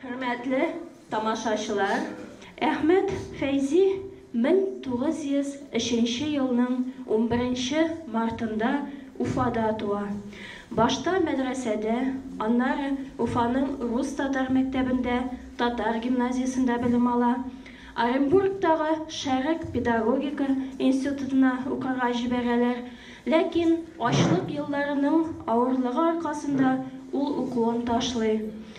Хөрмәтле тамашачылар, Әхмәт Фәйзи 1903 елның унберенче мартында Уфада туа. Башта мәдрәсәдә, аннары Уфаның рус-татар мәктәбендә, татар гимназиясендә белем ала. Оренбургтагы Шәрык педагогика институтына укырга җибәрәләр, ләкин ачлык елларының авырлыгы аркасында ул укуын ташлый.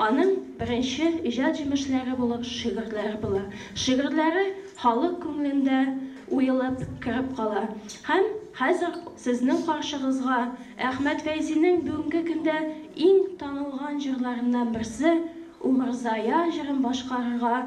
Аның беренче иҗат җимешләре булып шигырьләре була. Шигырьләре халык күңелендә уелып кереп кала. Һәм хәзер сезнең каршыгызга Әхмәт Фәйзинең бүгенге көндә иң танылган җырларыннан берсе Умырзая җырын башкарырга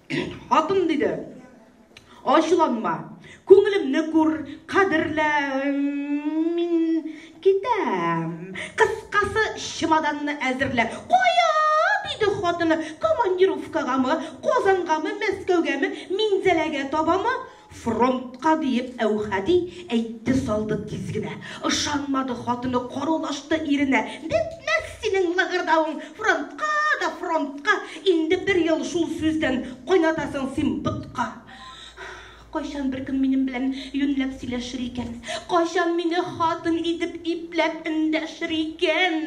Хатын диде, ачуланма, күңелемне күр, кадерлә, мин китәм. Кыскасы, чемоданны әзерлә. Кая? диде хатыны. Командировкагамы, Казангамы, Мәскәүгәме, Минзәләгә табамы? Фронтка диеп Әүхәди әйтте салды тиз генә. Ышанмады хатыны, карулашты иренә. Бетмәс синең лыгырдавың, фронтка да фронтка! Инде бер ел шул сүздән кайнатасың син ботка. Кайчан беркем минем белән юньләп сөйләшер икән? Кайчан мине хатын итеп ипләп эндәшер икән?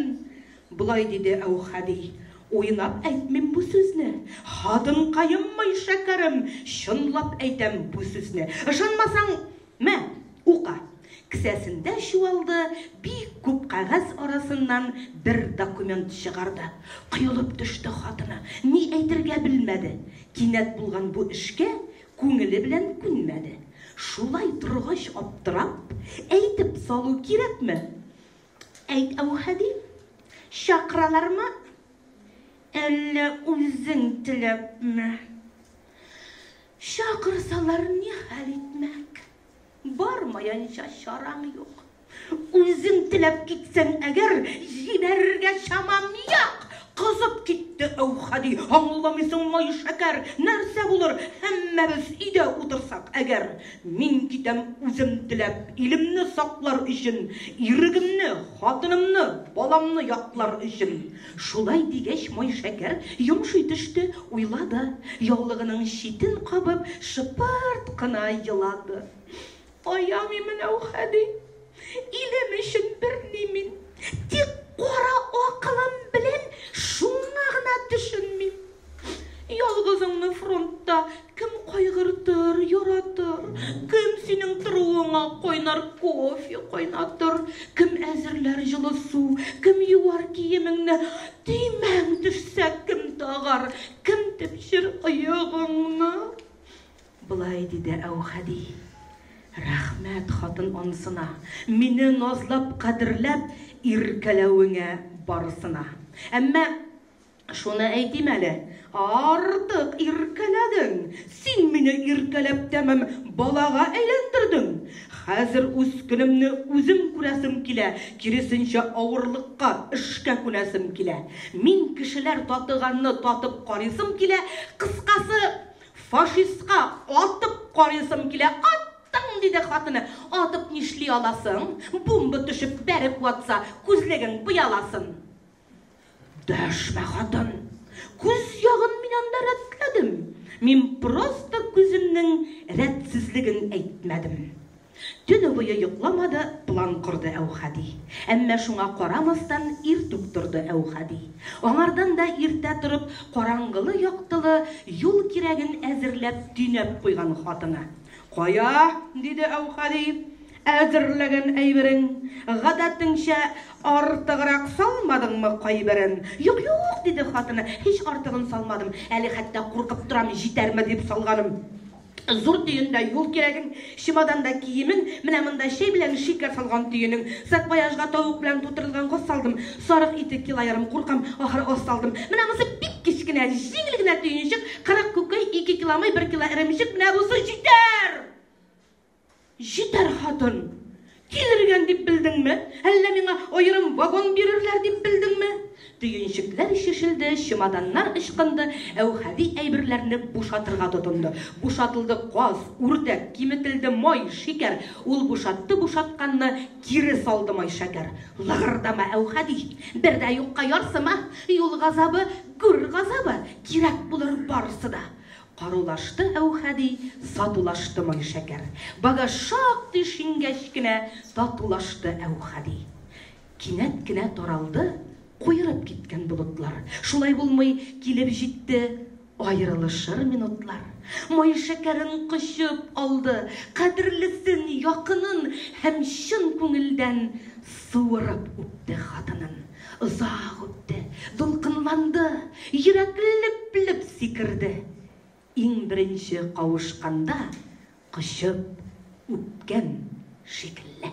Болай диде Әүхәди, Уйлап әйтмим бу сүзне, хатынкаем мый, шәкәрем, чынлап әйтәм бу сүзне. Ышанмасаң, мә, ука. Кесәсендә чуалды, бик күп кәгазь арасыннан бер документ чыгарды. Коелып төште хатыны, ни әйтергә белмәде. Кинәт булган бу эшкә күңеле белән күнмәде. Шулай торгач аптырап, әйтеп салу кирәкме? Әйт, Әүхәди, чакыралармы, әллә үзең теләпме? Чакырсалар ни хәл итмәк? Бармаянча чараң юк. Үзең теләп китсәң әгәр, җибәрергә чамам юк. Кызып китте Әүхәди. Аңламыйсыңмы, шәкәр, нәрсә булыр, һәммәбез өйдә утырсак әгәр? Мин китәм үзем теләп, илемне саклар өчен, ирегемне, хатынымны, баламны яклар өчен. Шулай дигәч, Майшәкәр йомшый төште, уйлады, яулыгының читен кабып, шыпырт кына елады. Аямыйм мин, әүхәди! Илем өчен берни мин, Тик кара акылым белән Шуңа гына төшенмим. Ялгызыңны фронтта Кем кайгыртыр, яратыр? Кем синең торуыңа Кайнар кофе кайнатыр? Кем әзерләр җылы су? Кем юар киемеңне? Төймәң төшсә, кем тагар? Кем тепчер оегыңны? Болай диде Әүхәди. Рәхмәт хатын анысына, мине назлап, кадерләп, иркәләвеңә барысына. Әмма шуны әйтим әле, артык иркәләдең. Син мине иркәләп тәмам балага әйләндердең. Хәзер үз көнемне үзем күрәсем килә, киресенчә авырлыкка, эшкә күнәсем килә. Мин кешеләр татыганны татып карыйсым килә, кыскасы, Фашистка атып карыйсым килә, аттың! диде хатыны. Атып нишли аласың? Бумба төшеп бәреп ватса, күзлегең пыяласын. Дәшмә, хатын! Күз ягын мин анда рәтләдем. Мин просто күземнең рәтсезлеген әйтмәдем. Төне буе йокламады, план корды Әүхәди. Әмма шуңа карамастан, иртүк торды Әүхәди. Аңардан да иртә торып, караңгылы-яктылы юл кирәген әзерләп, төйнәп куйган хатыны. Кая? диде Әүхәди. Әзерләгән әйберең. Гадәтеңчә, артыграк салмадыңмы кайберен? Юк, юк, диде хатыны, һич артыгын салмадым. Әле хәтта куркып торам, җитәрме дип салганым. Зур төендә юл кирәгең, чемоданда киемең, менә монда чәй белән шикәр салган төенең. Саквояжга тавык белән тутырылган газ салдым. Сарык ите килоярым, куркам, ахыр аз салдым. Менә монысы бик кечкенә, җиңел генә төенчек, кырык күкәй, ике киломый, бер кило эремчек, менә бусы җитәр! Җитәр, хатын! Килергән дип белдеңме? Әллә миңа аерым вагон бирерләр дип белдеңме? Төенчекләр чишелде, чемоданнар ычкынды, Әүхәди әйберләрне бушатырга тотынды. Бушатылды каз, үрдәк, киметелде май, шикәр. Ул бушатты бушатканны, кире салды май шәкәр. Лыгырдама, Әүхәди! Бер дә юкка ярсыма! Юл газабы, гүр газабы, кирәк булыр барысы да. Карулашты Әүхәди, сатулашты Майшәкәр. Багаж шактый шиңгәч кенә татулашты Әүхәди. Кинәт кенә таралды куерып киткән болытлар. Шулай булмый, килеп җитте аерылышыр минутлар. Майшәкәрен кочып алды, кадерлесен, якынын һәм чын күңелдән суырып үпте хатынын. Озак үтте, дулкынланды, йөрәк леп-леп сикерде. Иң беренче кавышканда кочып үпкән шикелле.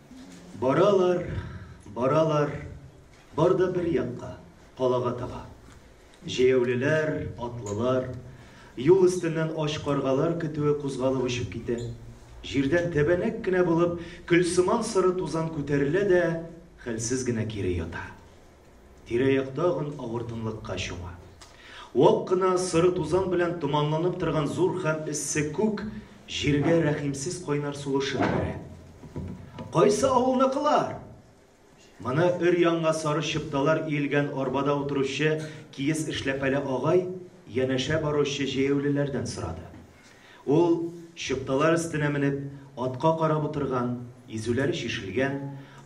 Баралар, баралар, бар да бер якка, калага таба. Җәяүлеләр, атлылар, юл өстеннән ач каргалар көтүе кузгалып очып китә. Җирдән тәбәнәк кенә булып, көлсыман соры тузан күтәрелә дә хәлсез генә кире ята. Тирә-як тагын авыр тынлыкка чума. Вак кына соры тузан белән томанланып торган зур һәм эссе күк җиргә рәхимсез кайнар сулышын бирә. Кайсы авылныкылар? Моны өр-яңа сары чыпталар иелгән арбада утыручы киез эшләпәле агай янәшә баручы җәяүлеләрдән сорады. Ул, чыпталар өстенә менеп, атка карап утырган, изүләре чишелгән,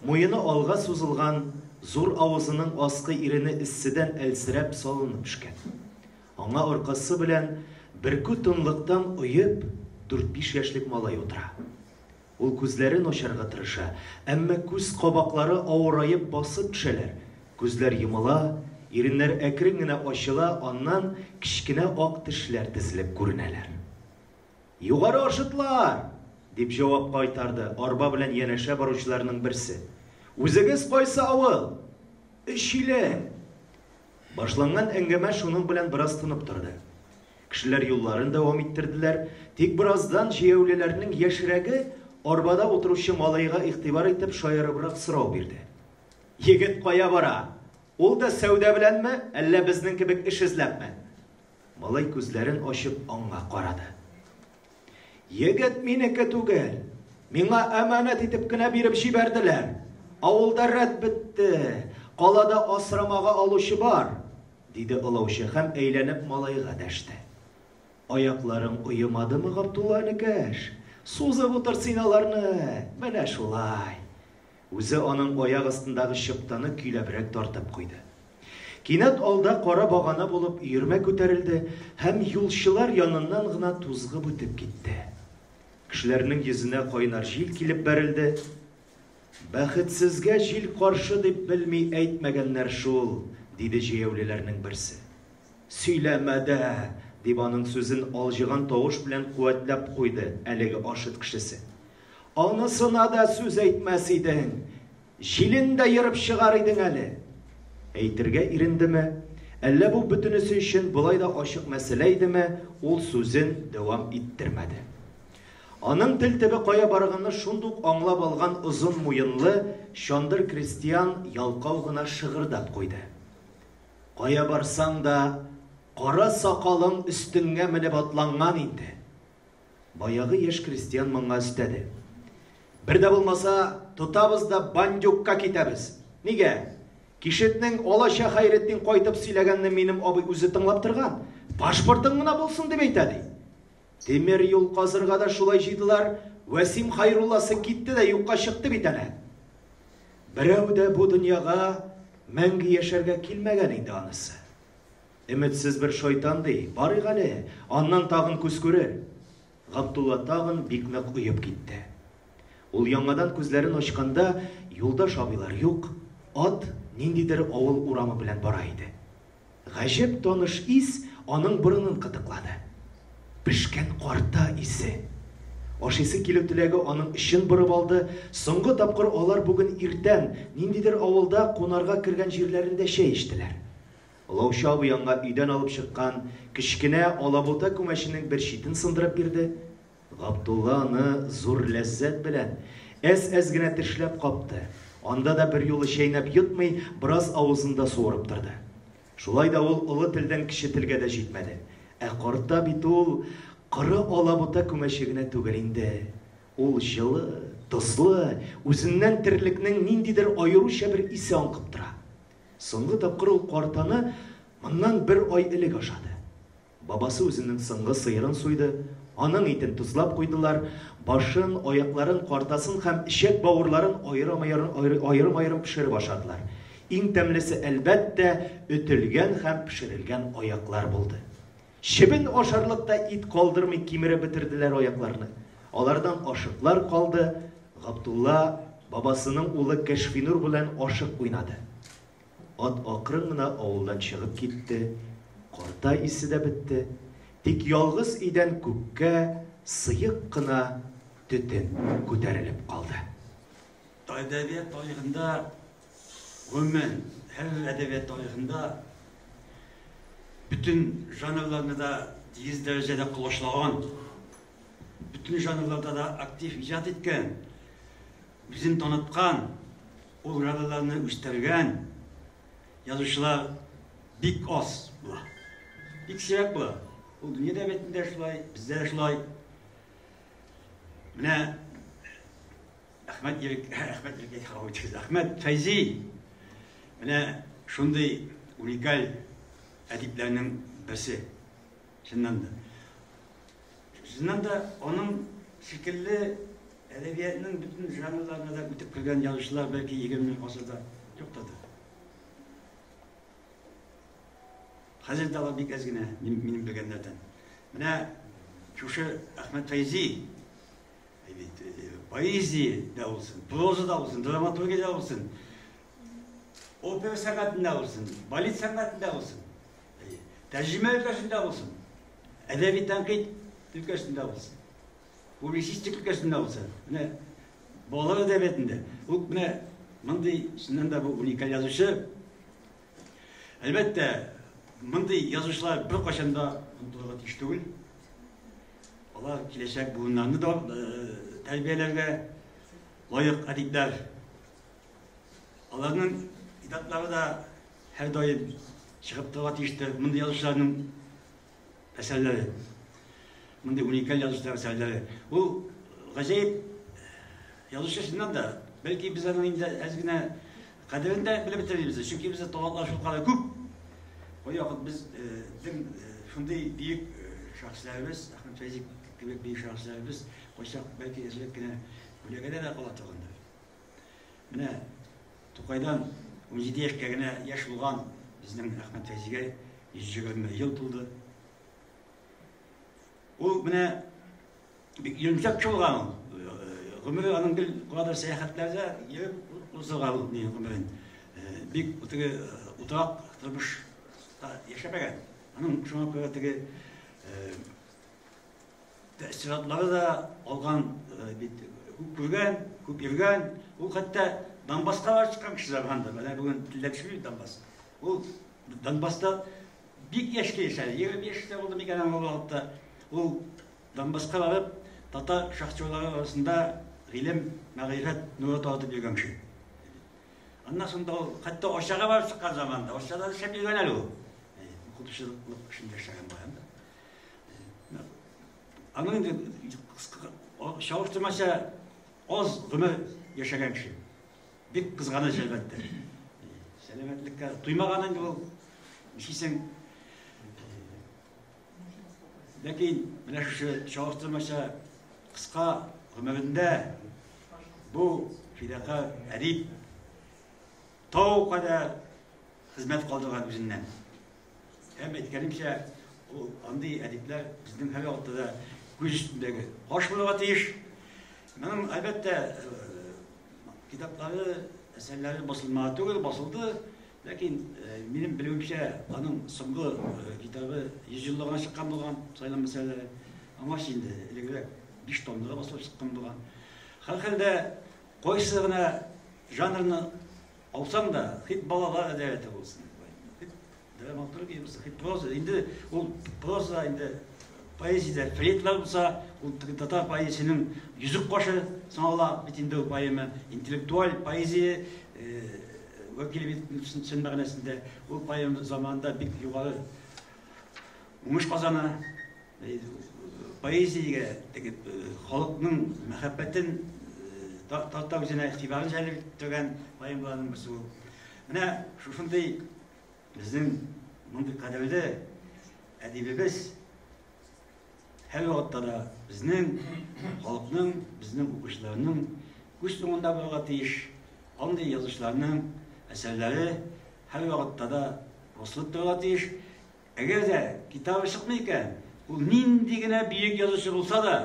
муены алга сузылган, зур авызының аскы ирене эсседән әлсерәп салынып пешкән. Аңа аркасы белән бөркү тынлыктан оеп дүрт-биш яшьлек малай утыра. Ул күзләрен ачарга тырыша, әмма күз кабаклары авыраеп басып төшәләр. Күзләр йомыла, иреннәр әкрен генә ачыла, аннан кечкенә ак тешләр тезелеп күренәләр. Югары Ашытлар! дип җавап кайтарды арба белән янәшә баручыларның берсе. Үзегез кайсы авыл? Өчилем! Башланган әңгәмә шуның белән бераз тынып торды. Кешеләр юлларын дәвам иттерделәр. Тик бераздан җәяүлеләрнең яшьрәге, арбада утыручы малайга игътибар итеп, шаярыбрак сорау бирде. Егет кая бара? Ул да сәүдә беләнме, әллә безнең кебек эш эзләпме? Малай күзләрен ачып аңа карады. Егет минеке түгел. Миңа әманәт итеп кенә биреп җибәрделәр. Авылда рәт бетте. Калада асрамага алучы бар. Диде олаучы һәм әйләнеп малайга дәште. Аякларың оемадымы, Габдулла энекәш? Сузып утыр син аларны! Менә шулай! Үзе аның аяк астындагы чыптаны көйләбрәк тартып куйды. Кинәт алда кара багана булып өермә күтәрелде һәм юлчылар яныннан гына тузгып үтеп китте. Кешеләрнең йөзенә кайнар җил килеп бәрелде, Бәхетсезгә җил каршы дип белми әйтмәгәннәр шул, диде җәяүлеләрнең берсе. Сөйләмә дә! дип аның сүзен алҗыган тавыш белән куәтләп куйды әлеге Ашыт кешесе. Анысына да сүз әйтмәс идең, җилен дә ерып чыгар идең әле! Әйтергә ирендеме, әллә бу бөтенесе өчен болай да ачык мәсьәлә идеме, ул сүзен дәвам иттермәде. Аның тел төбе кая барганны шундук аңлап алган озын муенлы чандыр крестьян ялкау гына шыгырдап куйды. Кая барсаң да, кара сакалың өстеңә менеп атланган инде. Баягы яшь крестьян моңа өстәде. Бер дә булмаса, тотабыз да бандюкка китәбез. Нигә? Кишетнең алача Хәйретдин кайтып сөйләгәнне минем абый үзе тыңлап торган. Пашпортың гына булсын дип әйтә, ди. Тимер юл казырга да шулай җыйдылар, Вәсим Хәйрулласы китте дә юкка чыкты бит әнә. Берәү дә бу дөньяга мәңге яшәргә килмәгән инде анысы. Өметсез бер шайтан ди, барыйк әле, аннан тагын күз күрер. Габдулла тагын бик нык оеп китте. Ул яңадан күзләрен ачканда, юлдаш абыйлар юк, ат ниндидер авыл урамы белән бара иде. Гаҗәп таныш ис аның борынын кытыклады. Пешкән карта исе. Ашыйсы килү теләге аның эчен борып алды, соңгы тапкыр алар бүген иртән, ниндидер авылда кунарга кергән җирләрендә чәй эчтеләр. Олаучы абый аңа өйдән алып чыккан кечкенә алабута күмәченең бер читен сындырып бирде. Габдулла аны зур ләззәт белән әз-әз генә тешләп капты. Анда да берьюлы чәйнәп йотмый, бераз авызында суырып торды. Шулай да ул олы телдән кече телгә дә җитмәде. Ә карта бит ул коры алабута күмәче генә түгел инде. Ул җылы, тозлы, үзеннән терлекнең ниндидер аеруча бер исе аңкып тора. Соңгы тапкыр ул картаны моннан бер ай элек ашады. Бабасы үзенең соңгы сыерын суйды, аның итен тозлап куйдылар, башын, аякларын, картасын һәм эчәк-бавырларын аерым-аерым пешереп ашадылар. Иң тәмлесе, әлбәттә, өтелгән һәм пешерелгән аяклар булды. Чебен ашарлык та ит калдырмый кимереп бетерделәр аякларны. Алардан ашыклар калды, Габдулла бабасының улы Кәшфинур белән ашык уйнады. Ат акрын гына авылдан чыгып китте, карта исе дә бетте, тик ялгыз өйдән күккә сыек кына төтен күтәрелеп калды. Әдәбият тарихында, гомумән, һәрбер әдәбият тарихында бөтен жанрларны да тигез дәрәҗәдә колачлаган, бөтен жанрларда да актив иҗат иткән, үзен таныткан Ул граналарны үстергән язучылар бик аз була. Бик сирәк була. Ул дөнья дәбетендә шулай, бездә шулай. Менә Әхмәт Ирек, Әхмәт Ирек халык үткән. Әхмәт Фәйзи. Менә шундый уникаль әдипләрнең берсе. Чыннан да. Чыннан да, аның шикелле әдәбиятның бөтен жанрларына да үтеп кергән язучылар бәлки егерменче гасырда юктыр да. Хәзер дә алар бик әз генә минем белгәннәрдән. Менә шушы Әхмәт Фәйзи поэзия да булсын, проза да булсын, драматургия да булсын, Опера сәнгатендә булсын, балет сәнгатендә булсын, тәрҗемә өлкәсендә булсын, әдәби тәнкыйть өлкәсендә булсын, публицистик өлкәсендә булсын. Менә балалар әдәбиятында ул менә мондый чыннан да бу уникаль язучы. Әлбәттә, мондый язучылар бер кайчан да онытылырга тиеш түгел. Алар киләчәк буыннарны да э, тәрбияләргә лаек әдипләр Аларның китаплары да һәр даим чыгып торырга тиештер. Мондый язучыларның әсәрләре, мондый уникаль язучылар әсәрләре. Ул гаҗәеп язучы чыннан да, бәлки без аның инде әз генә кадерен дә белеп бетермибез, чөнки бездә талантлар шулкадәр күп. Бу вакыт без безнең шундый бөек шәхесләребез, Әхмәт Фәйзи кебек бөек шәхесләребез кайчак бәлки эзлек кенә күләгәдә дә кала торгандыр. Менә Тукайдан 17 яшькә генә яшь булган безнең Әхмәт Фәйзигә 120 ел тулды. Ул менә бик йөнтәк булган ул. Гомере аның гел куадыр сәяхәтләрдә йөреп узылган ул ни гомерен. Бик теге утак тормыш яшәмәгән. Аның шуңа күрә теге Тәэссиратлары да алган бит. Күп күргән, күп йөргән. Ул хәтта Донбасска барып чыккан кешеләр анда. Менә бүген Ләкшми Донбасс. Ул Донбасста бик яшькә яшәде. 20 яшьтә булды микән аңа вакытта. Ул Донбасска барып, татар шахтерлары арасында гыйлем, мәгърифәт нуры таратып йөргән кеше. Аннан соң да ул хәтта Арчага барып чыккан заманда, Арчада эшләп йөргән әле ул. Укытучылык эшендә эшләгән бар. Аның инде чагыштырмача аз гомер яшәгән кеше. Бик кызганыч әлбәттә. Сәламәтлеккә туймаган инде ул. Ничисең? Ләкин менә шушы чагыштырмача кыска гомерендә бу фидака әдип тау кадәр хезмәт калдырган үзеннән. Һәм әйткәнемчә, ул андый әдипләр безнең һәр вакытта да күз өстендәге каш булырга тиеш. Моның, әлбәттә, э, китаплары, әсәрләре басылмаган түгел, басылды. Ләкин э, минем белүемчә, аның соңгы э, китабы 100 еллыгына чыккан булган, сайлам мәсьәләләре. Аңа инде элегрәк 5 томлыгы басылып чыккан булган. Һәрхәлдә, кайсы гына жанрны Алсаң да, хит балалар әдәбияте булсын, дип әйтте. Хит драматургия булса, хит проза. Инде ул проза инде поэзиядә фрейдлар булса, ул татар поэзиясенең йөзек кашы санала бит инде ул поэма. Интеллектуаль поэзия э, вәкиле бит чын мәгънәсендә ул поэма заманында бик югары уңыш казана. Поэзиягә теге халыкның мәхәббәтен тарта үзенә игътибарын җәлеп итүгән поэмаларның берсе ул. Менә шушындый безнең мондый кадерле әдибебез һәр вакытта да безнең халыкның, безнең укучыларның күз уңында булырга тиеш. Андый язучыларның әсәрләре һәр вакытта да басылып торырга тиеш. Әгәр дә китабы чыкмый икән, ул нинди генә биек язучы булса да,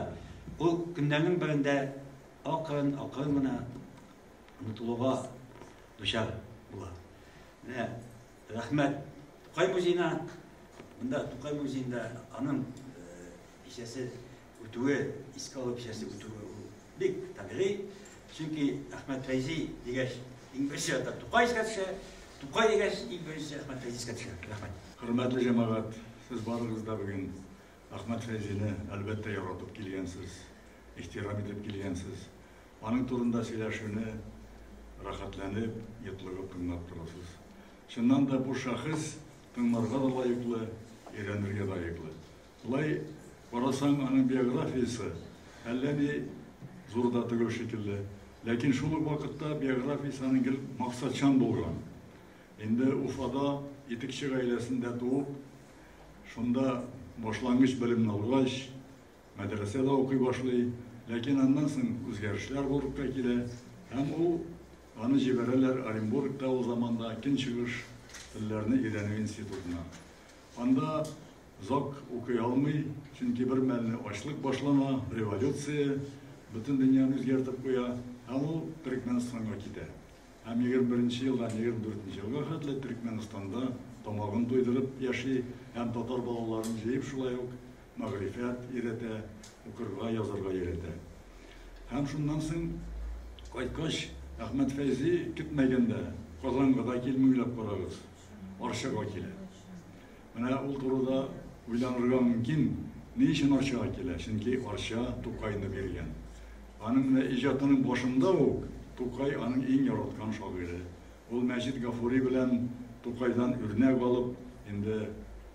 ул көннәрнең берендә акрын, акрын гына онытылуга дучар була. Менә рәхмәт Тукай музеена, монда Тукай музеенда аның кичәсе үтүе, искә алу кичәсе үтүе ул бик табигый, чөнки Әхмәт Фәйзи дигәч, иң беренче рәттә Тукай искә төшә, Тукай дигәч, иң беренче Әхмәт Фәйзи искә төшә. Рәхмәт. Хөрмәтле җәмәгать, сез барыгыз да бүген Әхмәт Фәйзине, әлбәттә, яратып килгәнсез, ихтирам итеп килгәнсез. Аның турында сөйләшүне рәхәтләнеп, йотлыгып тыңлап торасыз. Чыннан да бу шәхес тыңларга да лаеклы, өйрәнергә лаеклы. Болай карасаң, аның биографиясе әллә ни зур да түгел шикелле. Ләкин шул ук вакытта биографиясе аның гел максатчан булган. Инде Уфада итекче гаиләсендә туып, шунда башлангыч белемне алгач, мәдрәсәдә укый башлый. Ләкин аннан соң үзгәрешләр булырга килә һәм ул аны җибәрәләр Оренбургта ул заманда көнчыгыш телләрне өйрәнү институтына. Анда Озак укый алмый, чөнки бер мәлне ачлык башлана, революция бөтен дөньяны үзгәртеп куя, һәм ул Төрекмәнстанга китә. Һәм егерме беренче елдан егерме дүртенче елга хәтле Төрекмәнстанда тамагын туйдырып яши һәм татар балаларын җыеп шулай ук мәгърифәт өйрәтә, укырга, язарга өйрәтә. Һәм шуннан соң кайткач, Әхмәт Фәйзи көтмәгәндә Казанга да килми, уйлап карагыз, Арчага килә. Менә ул турыда уйланырга мөмкин, ни өчен Арчага килә? Чөнки Арча Тукайны биргән. Аның менә иҗатының башында ук Тукай аның иң яраткан шагыйре. Ул Мәҗит Гафури белән Тукайдан үрнәк алып, инде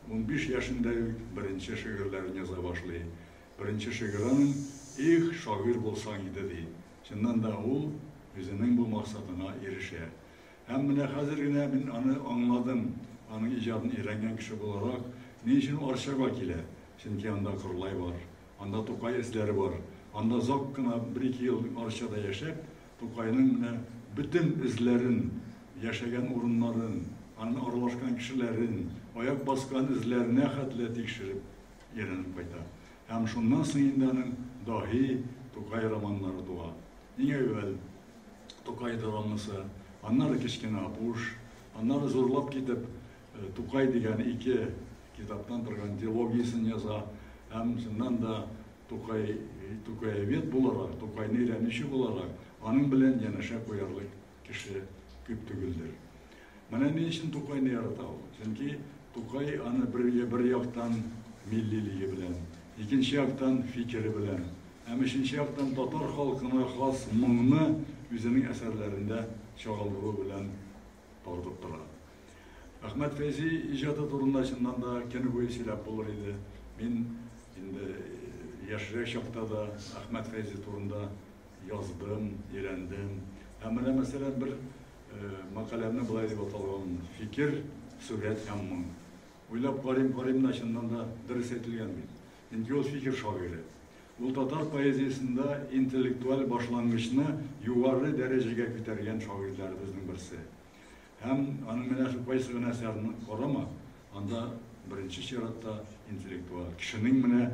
унбиш яшендә үк беренче шигырьләрен яза башлый. Беренче шигыре аның Их, шагыйрь булсаң иде, ди. Чыннан да, ул үзенең бу максатына ирешә. Һәм менә хәзер генә мин аны аңладым, аның иҗатын өйрәнгән кеше буларак, ни өчен ул Арчага килә. Чөнки анда Корлай бар, анда Тукай эзләре бар. Анда озак кына, бер-ике ел Арчада яшәп, Тукайның менә бөтен эзләрен, яшәгән урыннарын, анын аралашкан кешеләрен, аяк баскан эзләренә хәтле тикшереп, өйрәнеп кайта. Һәм шуннан соң инде аның Даһи, Тукай романнары туа. Иң әүвәл Тукай драмасы, аннары Кечкенә Апуш, аннары зурлап китеп Тукай дигән ике китаптан торган дилогиясен яза һәм чыннан да Тукай, тукаевед буларак, Тукайны өйрәнүче буларак, аның белән янәшә куярлык кеше күп түгелдер. Менә ни өчен Тукайны ярата ул. Чөнки Тукай аны бер бер яктан миллилеге белән, икенче яктан фикере белән, һәм өченче яктан татар халкына хас моңны үзенең әсәрләрендә чагылдыру белән тартып тора. Әхмәт Фәйзи иҗаты турында чыннан да көне буе сөйләп булыр иде. Мин инде яшьрәк чакта да Әхмәт Фәйзи турында Яздым, өйрәндем. Ә менә, мәсәлән, бер мәкаләмне болай дип аталган, Фикер, сурәт һәм моң. Уйлап карыйм, карыйм да, чыннан да, дөрес әйтелгән бит. Чөнки ул фикер шагыйре. Ул татар поэзиясендә интеллектуаль башлангычны югары дәрәҗәгә күтәргән шагыйрьләребезнең берсе. Һәм аның менә шул кайсы гына әсәрен карама, анда беренче чиратта интеллектуаль кешенең менә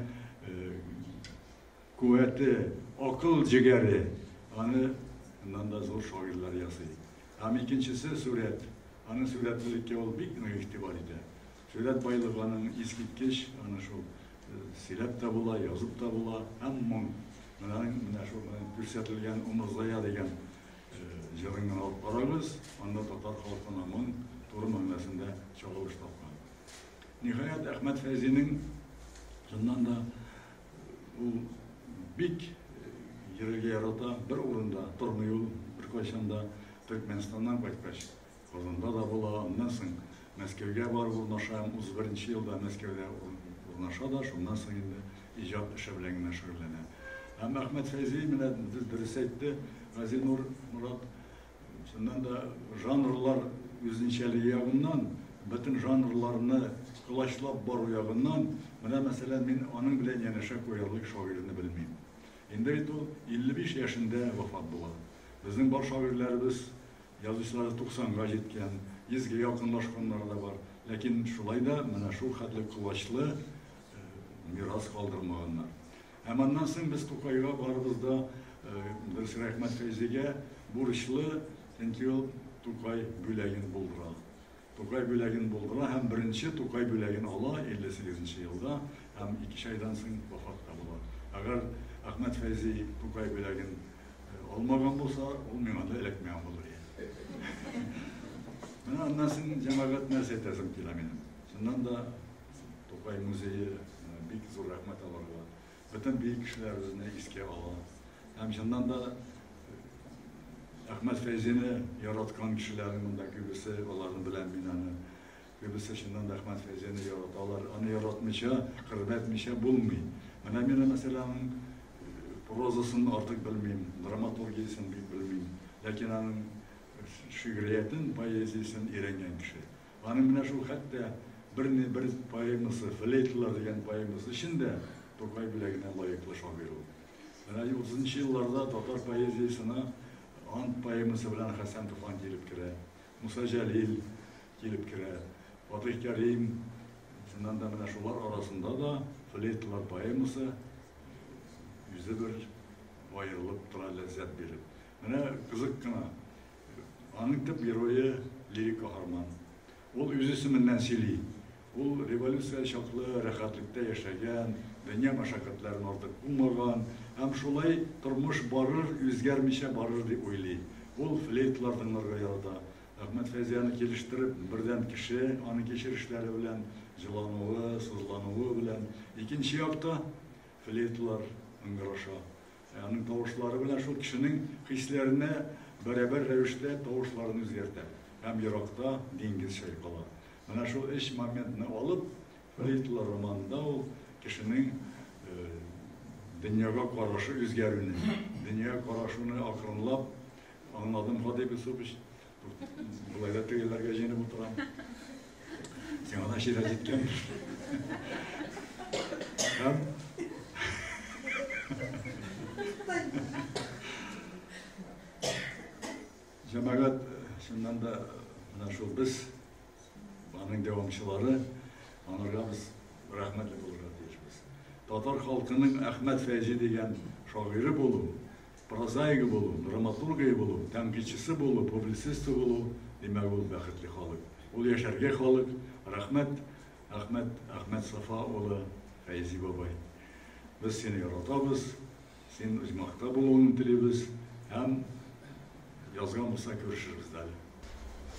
куәте, акыл җегәре аны моннан да зур шагыйрьләр ясый. Һәм икенчесе, сурәт. Аны сурәтлелеккә ул бик нык игътибар итә. Сурәт байлыгы аның искиткеч, аны шул сөйләп тә була, язып та була, һәм моң. Менә, менә шул күрсәтелгән Умырзая дигән җырын гына алып карагыз, анда татар халкына моң туры мәгънәсендә чагылыш тапкан. Ниһаять, Әхмәт Фәйзинең, чыннан да, Ул бик йөрергә ярата, бер урында тормый ул беркайчан да. Төркмәнстаннан кайткач, Казанда да була, аннан соң Мәскәүгә барып урнаша, 31 елда Мәскәүдә урнаша да, шуннан соң инде иҗат эше белән генә шөгыльләнә. Һәм Әхмәт Фәйзи, менә дөрес әйтте Газинур Морат, Чыннан да, жанрлар үзенчәлеге ягыннан, бөтен жанрларны колачлап бару ягыннан, менә, мәсәлән, мин аның белән янәшә куярлык шагыйрьне белмим. Инде бит ул 55 яшендә вафат була. Безнең бар шагыйрьләребез, язучыларыбыз 90 га җиткән, 100 гә якынлашканнары да бар. Ләкин шулай да менә шулхәтле колачлы мирас калдырмаганнар. Һәм аннан соң без Тукайга барыбыз да, дөрес, рәхмәт Фәйзигә бурычлы, чөнки ул Тукай бүләген булдыра. Тукай бүләген булдыра һәм беренче Тукай бүләген ала 58 нче елда һәм икеш айдан соң вафат та була. Әгәр Әхмәт Фәйзи Тукай бүләген алмаган булса, ул миңа да эләкмәгән булыр иде. Менә аннан соң җәмәгать нәрсә әйтәсем килә минем. Чыннан да, Тукай музее бик зур рәхмәт аларга. Бөтен бөек кешеләр үзенә искә ала. Һәм чыннан да Әхмәт Фәйзине яраткан кешеләрнең монда күбесе аларны белән мин аны. Күбесе чыннан да Әхмәт Фәйзине яраталар. Аны яратмыйча, хөрмәтмичә булмый. Менә мин мәсәлән прозасын артык белмим, драматургиясен бик белмим. Ләкин аның шигъриятен, поэзиясен өйрәнгән кеше. Аның менә шул хәтта берни бер поэмасы, Флейталар дигән поэмасы өчен дә Тукай бүләгенә лаеклы шагыйрь ул. Менә 30 нчы елларда татар поэзиясенә Ант поэмасы белән Хәсән Туфан килеп керә, Муса Җәлил килеп керә, Фатыйх Кәрим, чыннан да менә шулар арасында да Флейталар поэмасы үзе бер аерылып тора, ләззәт биреп. Менә кызык кына, аның төп герое лирик каһарман. Ул үз исеменнән сөйли. Ул революция чаклы рәхәтлектә яшәгән, дөнья мәшәкатьләрен артык булмаган һәм шулай тормыш барыр, үзгәрмичә барыр дип уйлый. Ул флейтлар тыңларга ярата. Әхмәт Фәйзияне килештереп, бердән кеше, аның кичерешләре белән, җылануы, сызлануы белән, икенче якта, флейтлар ыңгыраша. Ә аның тавышлары белән шул кешенең хисләренә бәрабәр рәвештә тавышларын үзгәртә һәм еракта диңгез чайкала. Менә шул өч моментны алып, флейтлы романында ул кешенең дөньяга карашы үзгәрүне, дөньяга карашуны акрынлап, аңладым, Фадеев Юсупович, Болай да тегеләргә җыенып утырам. Сиңа да ширә җиткән. Һәм Җәмәгать шуннан да менә шул без аның дәвамчылары анарга без рәхмәтле булырга тиешбез. Татар халкының Әхмәт Фәйзи дигән шагыйре булу Прозаигы булу, драматургыи булу, тәнкыйтьчысы булу, публицисты булу, димәк ул бәхетле халык. Ул яшәргә халык. Рәхмәт, Әхмәт, Әхмәт Сафа улы, Фәйзи бабай. Без сине яратабыз, син Оҗмахта булуыңны телибез һәм язган булса күрешербез дә әле.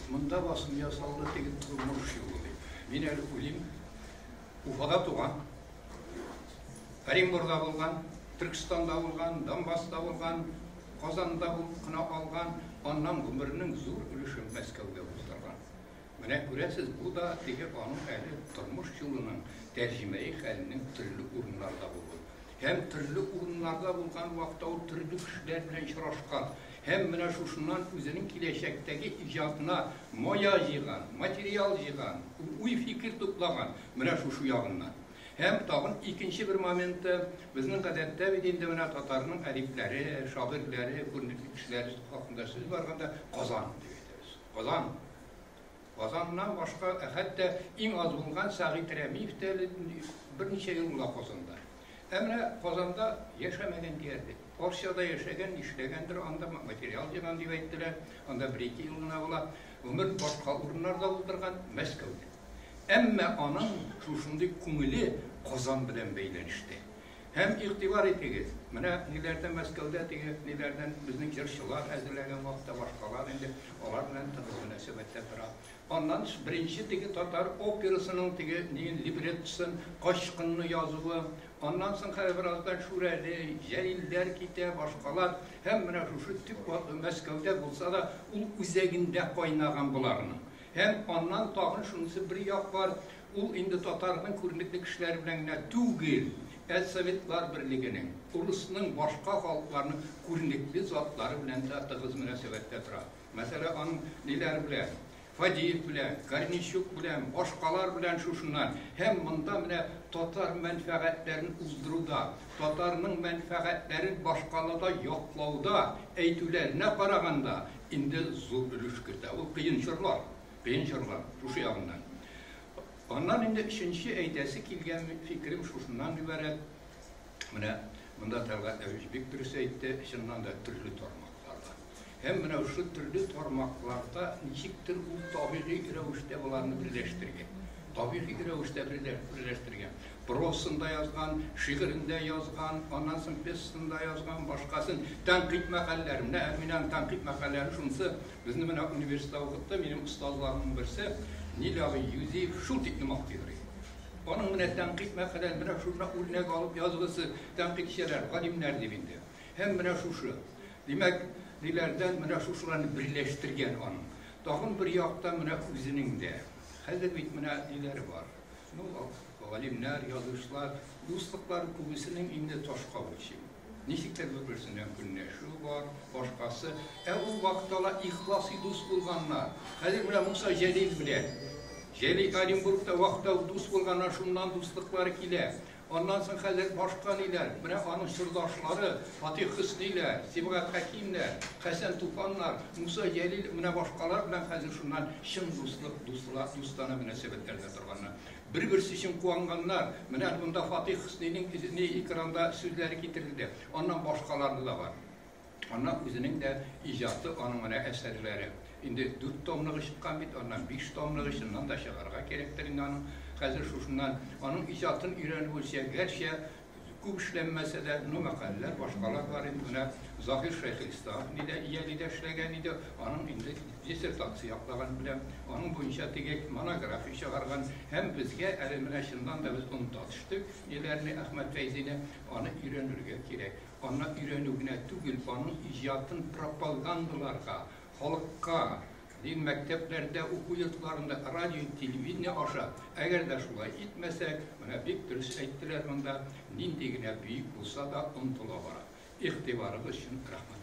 Монда басым ясалды, теге тормыш юлы дип. Мин әле уйлыйм, Уфада туган, Оренбургда булган, Төркстанда булган, Донбасста булган, Казанда булып кына алган, аннан гомернең зур өлешен Мәскәүдә уздырган. Менә күрәсез, бу да теге аның әле тормыш юлының тәрҗемәи хәленең төрле урыннарда булуы. Һәм төрле урыннарда булган вакытта ул төрле кешеләр белән очрашкан. Һәм менә шушыннан үзенең киләчәктәге иҗатына мая җыйган, материал җыйган, уй-фикер туплаган, менә шушы ягыннан. Һәм тагын икенче бер моменты, безнең гадәттә бит инде менә татарның әдипләре, шагыйрьләре, күренекле кешеләре хакында сүз барганда Казан дип әйтәбез. Казан. Казаннан башка, хәтта иң аз булган Сәгыйть Рәмиев тә әле берничә ел була Казанда. Ә менә Казанда яшәмәгән диярлек. Орсиядә яшәгән, нишләгәндер анда, материал җыйган дип әйттеләр. Анда бер-ике ел гына була. Гомер башка урыннарда утырган, Мәскәүдә. Әмма аның шушындый күңеле Казан белән бәйләнештә. Һәм игътибар итегез, менә ниләрдән Мәскәүдә теге ниләрдән безнең җырчылар әзерләгән вакытта башкалар инде алар белән тыгыз мөнәсәбәттә тора. Аннан тыш, беренче теге татар операсының теге ниен, либреттосын, Качкынны язуы, аннан соң хәзер бераздан Шүрәле, Җәлилләр китә, башкалар, һәм менә шушы төп вакыйга Мәскәүдә булса да, ул үзәгендә кайнаган боларның. Һәм аннан тагын шунысы бер як бар, ул инде татарның күренекле кешеләре белән генә түгел, ә Советлар Берлегенең, урысның, башка халыкларның күренекле затлары белән дә тыгыз мөнәсәбәттә тора. Мәсәлә, аның ниләр белә? Фадеев белә, Корнейчук белә, башкалар белән шушыннан. Һәм монда менә татар мәнфәгатьләрен уздыруда, татарның мәнфәгатьләрен башкалада яклауда, әйтүләренә караганда, инде зур өлеш кертә. Ул кыен чорлар, кыен чорлар, шушы ягыннан. Аннан инде өченче әйтәсе килгән фикерем шушыннан гыйбарәт. Менә монда Тәлгать Әбич бик дөрес әйтте, чыннан да төрле тармак. Тарта. Һәм менә шушы төрле тармакларда ничектер ул табигый рәвештә боларны берләштергән. Табигый рәвештә берләштергән. Прозасында язган, шигырендә язган, аннан соң пьесасында язган, башкасын тәнкыйть мәкаләләре. Менә Әминәнең тәнкыйть мәкаләләре шунысы, безне менә университетта укытты, минем остазларымның берсе, Нил абый Юзиев шул тиклем актыйгрый. Аның менә тәнкыйть мәкаләләре, менә шунда үрнәк алып язгысы, тәнкыйтьчеләр, галимнәр дип инде. Һәм менә шушы, димәк, ниләрдән менә шушыларны берләштергән аның. Тагын бер яктан менә үзенең дә. Хәзер бит менә ниләр бар. Ну, галимнәр, язучылар, дуслыклар күбесенең инде ташка үлчим. Ничек тә бер-берсенә көнләшү бар, башкасы. Ә ул вакытта ла ихласый дус булганнар. Хәзер менә Муса Җәлил белән. Җәлил Оренбургта вакытта дус булганнар, шуннан дуслыклары килә. Аннан соң хәзер башка ниләр? Менә аның чордашлары, Фатих Хөсниләр, Сибгат Хәкимнәр, Хәсән Туфаннар, Муса Җәлил, менә башкалар белән хәзер шуннан чын дуслык, дуслар, дустана мөнәсәбәтләрдә торганнар. Бер-берсе өчен куанганнар. Менә монда Фатих Хөснинең, ни, экранда сүзләре китерелде. Аннан башкалары да бар. Аннан үзенең дә иҗаты, аның менә әсәрләре. Инде дүрт томлыгы чыккан бит, аннан биш томлыгы чыннан да чыгарга кирәктер инде аның. Хәзер шушыннан аның иҗатын өйрәнеп үлчә, гәрчә күп эшләнмәсә дә, ну, мәкаләләр, башкалар бар инде менә. Заһир Шәйхелислам нидә иялидә эшләгән иде, аның инде диссертация яклаган беләм, аның буенча теге монография чыгарган. Һәм безгә әле менә чыннан да без оныта төштек ниләрне, Әхмәт Фәйзине, аны өйрәнергә кирәк. Аны өйрәнү генә түгел, аның иҗатын пропагандаларга, халыкка, дин мәктәпләрдә, уку йортларында, радио, телевидение аша, әгәр дә шулай итмәсәк, менә бик дөрес әйттеләр монда, нинди генә бөек булса да, онытыла бара. Игътибарыгыз өчен рәхмәт.